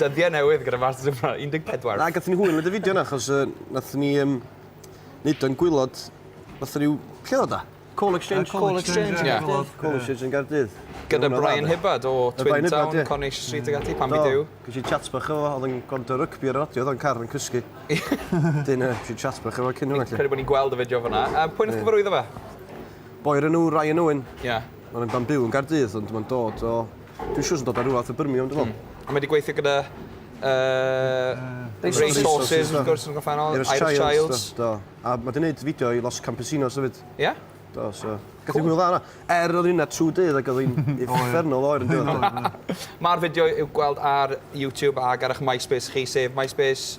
Dyddie newydd gyda Masters of Bra- 14. Na, gathon ni hwyl neud y fideo 'na achos yy nathon ni yym neud o'n gwilod fatha ryw, lle o'dd o 'da? Call Exchange? Call Exchange yn Gaerdydd. Call Exchange yn Gaerdydd. Gyda Brian Hibbard o Twin Town, Coronation Street ag ati, pam i Duw. Do, gesh i chat bach efo fo, o'dd yn gwrando ar rygbi ar y radio, o'dd o'n car yn cysgu. Wedyn yy gesh i chat bach efo cyn hwnna 'lly. Credu bo' ni'n gweld y fideo fan 'na. Yy pwy nath cyfarwyddo fe? Boi o'r enw Ryan Owen. Ie. Ma'n yn byw yn Gaerdydd ond ma'n dod o... Dwi'n siŵr sy'n dod o rywle fatha Birmingham dwi'n meddwl. Hmm. A mae wedi gweithio gyda yy Resources wrth gwrs yn y gorffennol, Irish Childs. Do. A mae wedi gwneud fideo i Los Campesinos hefyd. Ie? Do, so... Gath hi'n hwyl dda yna. Er oedd hynna trwy dydd ac oedd hi'n uffernol oer yn dydd. Mae'r fideo i'w gweld ar YouTube ac ar eich MySpace chi, sef MySpace...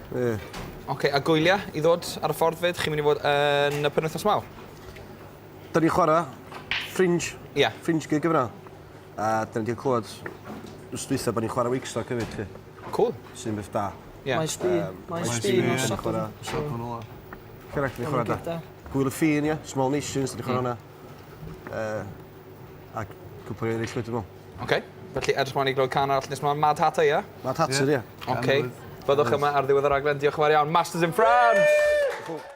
Ie. Oce, a gwylia i ddod ar y ffordd 'fyd? Chi'n mynd i fod yn y penwythnos mawr? Da ni'n chwarae Fringe. Ie. Fringe gig yma. A da ni wedi clywed wrth dweitha bod ni'n chwarae Wakestock hefyd, chi. Cŵl. Sy'n beth da. Ie. Maes B. Maes B yn Sadwrn. Correct, ni'n chwarae da. Gwyl y Ffin, ie. Small Nations, da ni'n chwarae hwnna. Yy ac cwpwl o eryll wedyn 'ny. Ok, felly edrych mlaen i glywed can arall nes ma Mad Hatter ie? Mad Hatter ie. Ok. Byddwch yma ar ddiwedd y raglen diolch yn fawr iawn. Masters in France!